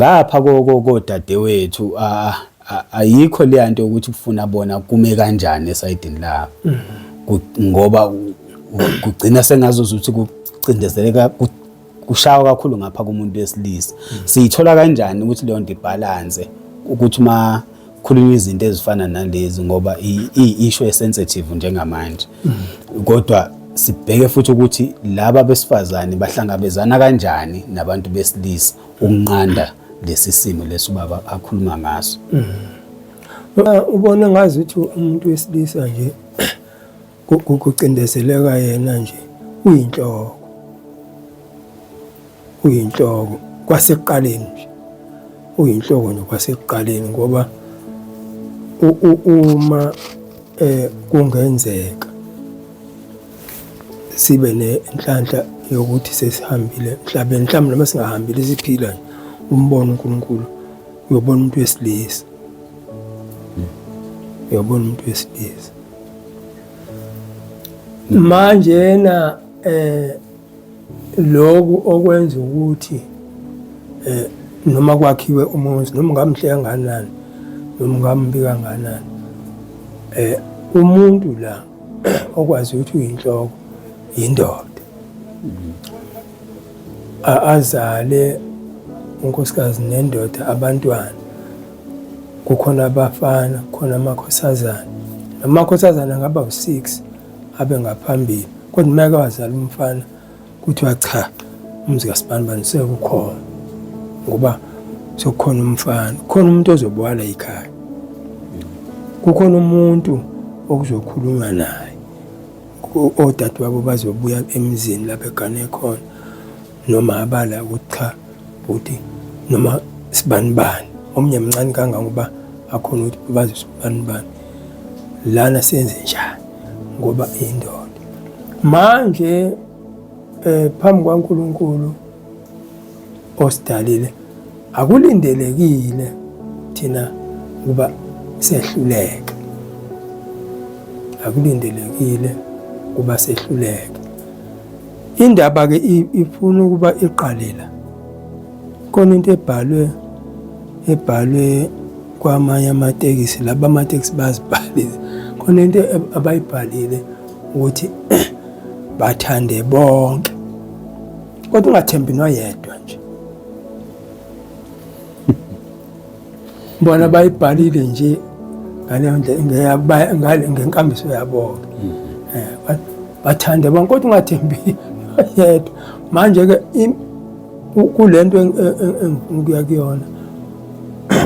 Ngapha kodadewethu ayikho leya nto yokuthi kufuna bona kume kanjani esayidini labo mm-hmm. ngoba kugcina sengazuza ukuthi kucindezeleka kushawa kakhulu ngapha kumuntu wesilisa mm-hmm. siyithola kanjani ukuthi leyo nto ibhalanse ukuthi uma khulunywa izinto ezifana nalezi ngoba i-issue esensitive njengamanje mm-hmm. kodwa sibheke futhi ukuthi laba besifazane bahlangabezana kanjani nabantu besilisa ukunqanda lesi simo lesi ubaba akhuluma ngaso mm-hmm. ubona ngazi ukuthi umuntu wesilisa nje kucindezeleka yena nje uyinhloko uyinhloko kwasekuqaleni nje uyinhloko nje kwasekuqaleni ngoba uma eh kungenzeka sibe nenhlanhla yokuthi sesihambile emhlabeni mhlawumbe noma singahambile siphila nje umbona uNkulunkulu uyobona umuntu wesilisa uyobona umuntu wesilisa manje yena eh lokhu okwenza ukuthi eh noma kwakhiwe umuzi noma ngamhle kanganani noma ngambi kanganani eh umuntu la okwazi ukuthi uyinhloko yindoda azale unkosikazi nendoda abantwana kukhona abafana kukhona amakhosazana namakhosazana angaba u-six abe ngaphambili kodwa uma eke wazala umfana kuthiwa cha umuzi kasibanibani sekukhona ngoba sekukhona umfana khona umuntu ozobwala ikhaya kukhona umuntu okuzokhulunywa naye odadewabo bazobuya emzini lapho egane khona noma abala ukuthi cha bhuti noma sibanibani omunye mncane kangangoba akhona ukuthi bazi sibanibani lana senze njani ngoba indoda manje eh phambi kwaNkuluNkulu osidalile akulindelekile thina ukuba sehluleke akulindelekile ukuba sehluleke indaba ke ifuna ukuba iqalela khona into ebhalwe ebhalwe kwamanye amatekisi laba amatekisi bazibhalile khona into abayibhalile ukuthi bathande bonke kodwa ungathembi noyedwa nje bona bayibhalile nje ngaleyo ndlela ngenkambiso yabo-ke mm-hmm. eh, bathande bonke kodwa ungathembi yedwa manje-ke kule nto engifuna ukuya kuyona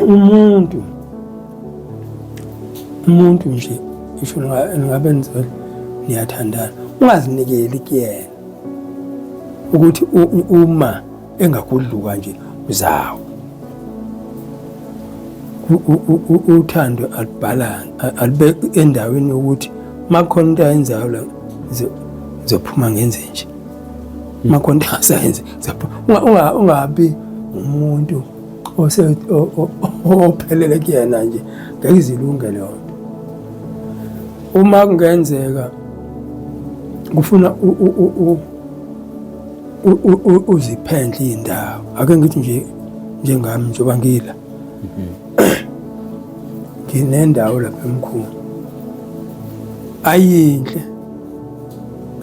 umuntu umuntu nje isho ngabe nizela niyathandana ungazinikeli kuyena ukuthi uma engakudluka nje uzawo uthando alibhalansi alibe endaweni yokuthi makhona into ayenzayo la zophuma ngenze nje makhona into asayenze ungabi umuntu ophelele kuyena nje ngeke izilunge leyo nto uma kungenzeka kufuna uziphendle iy'ndawo ake ngithi nje njengami njengoba ngila mhm. nginendawo lapha emkhulu ayinhle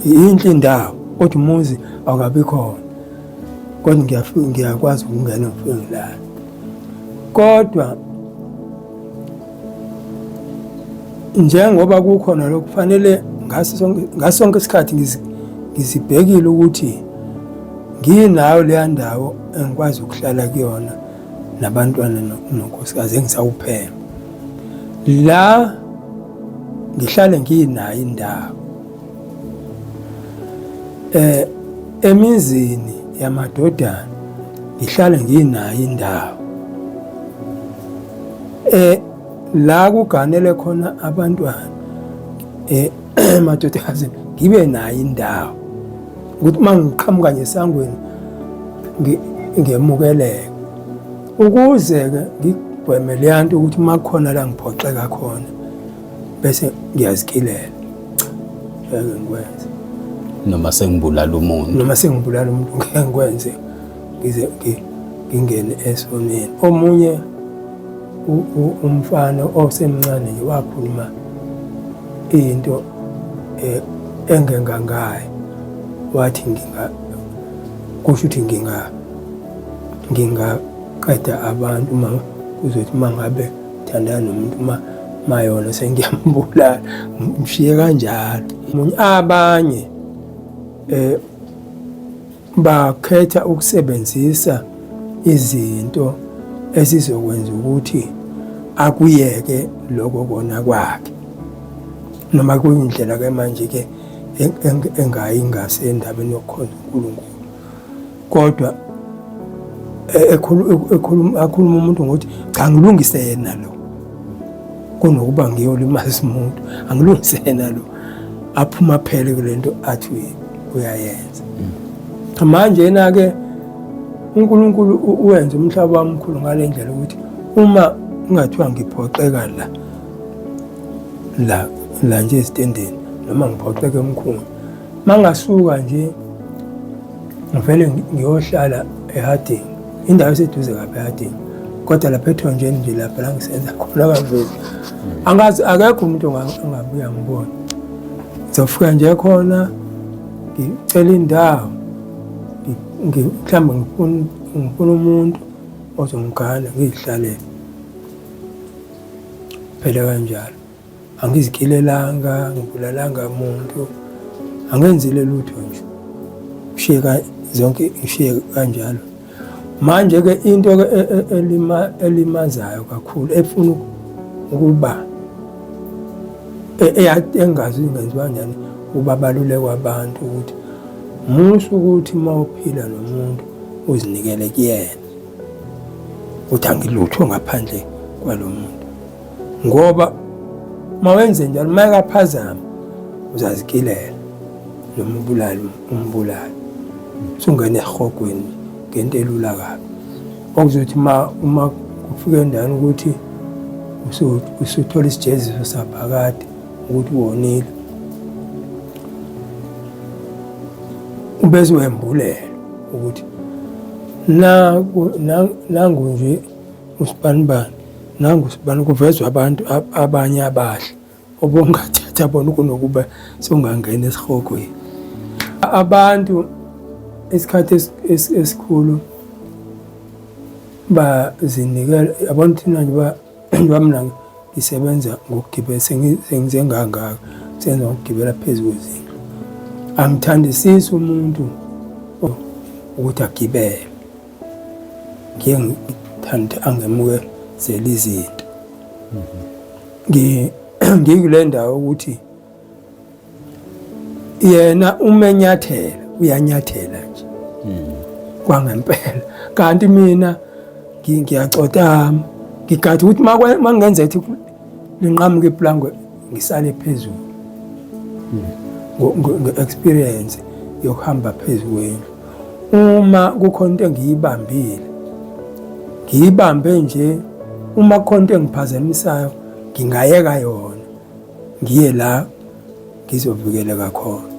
yinhle indawo kodwa umuzi awukabi khona kodwa ngiyakwazi ukungena ngifike ngilala kodwa njengoba kukhona lokhu kufanele ngaso sonke isikhathi ngizibhekile ukuthi nginayo leya ndawo engikwazi ukuhlala kuyona nabantwana nonkosikazi engisawuphela la ngihlale ngiyinayo indawo Eh emizini yamadodana ngihlale nginayo indawo eh la kuganele khona abantwana eh emadodakazi ngibe nayo indawo ukuthi uma ngiqhamuka ngesangweni ngemukeleke ukuze-ke ngigweme leya nto ukuthi uma kukhona la ngiphoxeka khona bese ngiyazikhilela cha ngeke ngikwenze noma sengibulala umuntu noma sengibulala umuntu ngeke ngikwenze ngize ngingene esoneni omunye umfana osemncane nje wakhuluma into eh, engengangayo wathi nginga kusho ukuthi nginga ngingaqeda abantu uma kuzothi uma ngabe Thandana nomuntu uma mayona sengiyambulala mshiye kanjalo abanye eh bakhetha ukusebenzisa izinto ezizokwenza ukuthi akuyeke lokho kona kwakhe noma kuyindlela ke manje ke engayi ngase endabeni yokukhonza uNkulunkulu kodwa e-, ekhuluma akhuluma umuntu ngokuthi cha ngilungise yena lo kunokuba ngiyolimaza umuntu angilungise yena lo aphuma phele kule nto athi uyayenza mm. manje yena-ke unkulunkulu uwenza umhlaba wamkhulu ngale ndlela ukuthi uma kungathiwa ngiphoxeka la la la nje esitendeni noma ngiphoxeke emkhulu Mangasuka nje ngivele ngiyohlala eHarding, indawo eseduze kabi eHarding, kodwa lapha ethonjeni nje lapha la ngisenza khona kavezi. Angazi akekho umuntu ongabuya ngibona. Ngizofika nje khona ngicela indawo mhlawumbe ngifuna ngifuna umuntu ozongigana ngizihlalele phela kanjalo. Angizikilelanga, ngibulalanga muntu, angenzile lutho nje. Ngishiye zonke ngishiye kanjalo. Manje-ke into-ke e, e, elima, elimazayo kakhulu efuna ukuba e, engazi ingenziwa njani ukuba balulekwa abantu ukuthi musa ukuthi uma uphila nomuntu uzinikele kuyena ukuthi angilutho ngaphandle kwalo muntu ngoba uma wenze njalo uma ekaphazama uzazikilela noma ubulali umbulali usungena ehogweni ngento elula kabi okuzothi uma uma kufika endaweni ukuthi usuthola isijeziso saphakade ukuthi wonile ubese wembulela ukuthi nangu nje usibanibani nangu sibani kuvezwa abantu abanye abahle obongathatha bona kunokuba songangena esihogweni abantu isikhathi esikhulu bazinikela abantu thina nje bamna ngisebenza ngokugibela sengize ngangaka senza ngokugibela phezu kwezindlu angithandisisi umuntu ukuthi agibele ngiye ngithande angemuke zela izinto ngikule ndawo ukuthi yena umenyathela uyanyathela nje kwangempela kanti mina ngiyacotama ngigade ukuthi uma ngingenza ethi linqamuke iplangwe ngisale phezulu nge-experience yokuhamba phezu kwendlu uma kukhona into engiyibambile ngiyibambe nje uma kukhona into engiphazamisayo ngingayeka yona ngiye la ngizovikeleka khona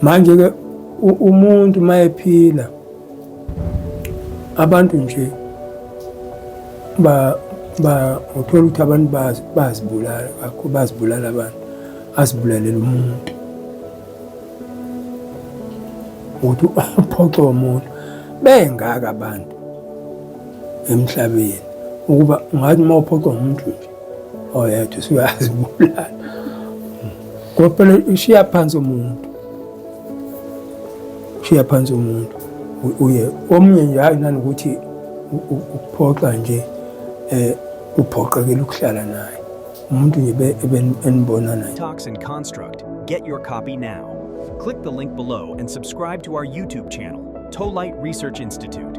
manje-ke umuntu uma ephila abantu nje ba ba uthola ukuthi abantu bazibulala kakho bazibulala abantu azibulalela umuntu ukuthi uphoxe umuntu bengaka abantu emhlabeni ukuba ungathi uma uphoxe umuntu nje oyedwa usuyazibulala ngoba phela ushiya phansi umuntu shiya phansi umuntu uye omunye nje hayi nanokuthi ukuphoxa nje eh uphoqekela ukuhlala naye umuntu nje enibona naye Talks and Construct get your copy now click the link below and subscribe to our YouTube channel Tolite Research Institute